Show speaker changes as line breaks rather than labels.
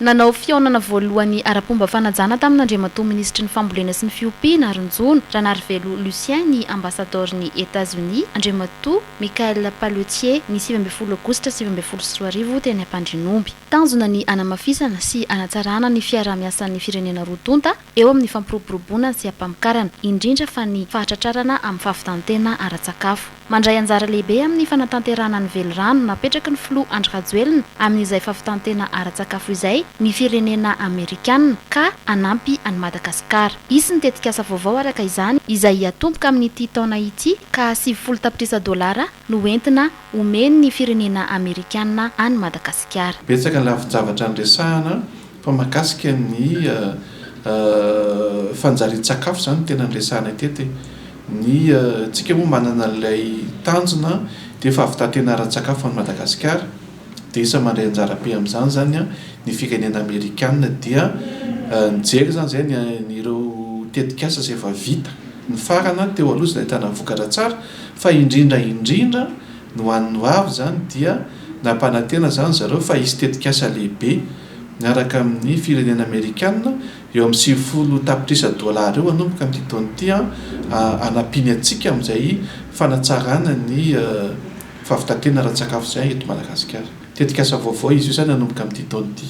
Nanao fihaonana voalohany ara-pomba fanajana tamin'Andriamatoa Minisitry ny Fambolena sy ny Fiompiana ary ny Jono, Ranarivelo Lucien, ny Ambasadaoron'i Etats-Unis, Andriamatoa Michael Palletier, ny sivy ambin'ny folo Aogositra sivy ambin'ny folo sy roa arivo, teny Ampandrinomby. Tanjona ny hanamafisana sy hanatsarana ny fiaraha-miasan'ny firenena roa tonta, eo amin'ny fampiroboroboana sy ampamokarana, indrindra fa ny fahatratrarana amin'ny fahavitan-tena ara-tsakafo. Mandray anjara lehibe amin'ny fanatanterahana ny velirano napetraky ny filoha Andry Rajoelina amin'izay fahavitan-tena ara-tsakafo izay ny firenena amerikanina ka hanampy an'i Madagasikara. Hisy ny tetikasa vaovao araka izany izay hiatomboka amin'ity taona ity ka sivifolo tapitrisa dolara no ho entina omen'ny firenena amerikanina an'i Madagasikara. Betsaka ny lafin-javatra
niresahana Fa mahakasika ny fanjarian-tsakafo izany no tena niresahanay teto e. Ny antsika moa manana an'ilay tanjona dia efa avy taty ianaran-tsakafo ho an'i Madagasikara dia isan'ny mandray anjara be amin'izany izany ny firenena amerikana dia nijery izany izay ny ireo tetikasa izay efa vita nifarana teo aloha izay nahitana vokatra tsara fa indrindra indrindra Ny ho an'ny ho avy izany dia nampanantena izany zareo fa hisy tetikasa lehibe miaraka amin'ny firenena amerikana eo amin'ny sivifolo tapitrisa dolara eo hanomboka amin'ity taona ity hanampiany antsika amin'izay fanatsarana ny fahavitan-tena ara-tsakafo izay eto Madagasikara. Tetikasa vaovao izy io izany hanomboka amin'ity taona ity.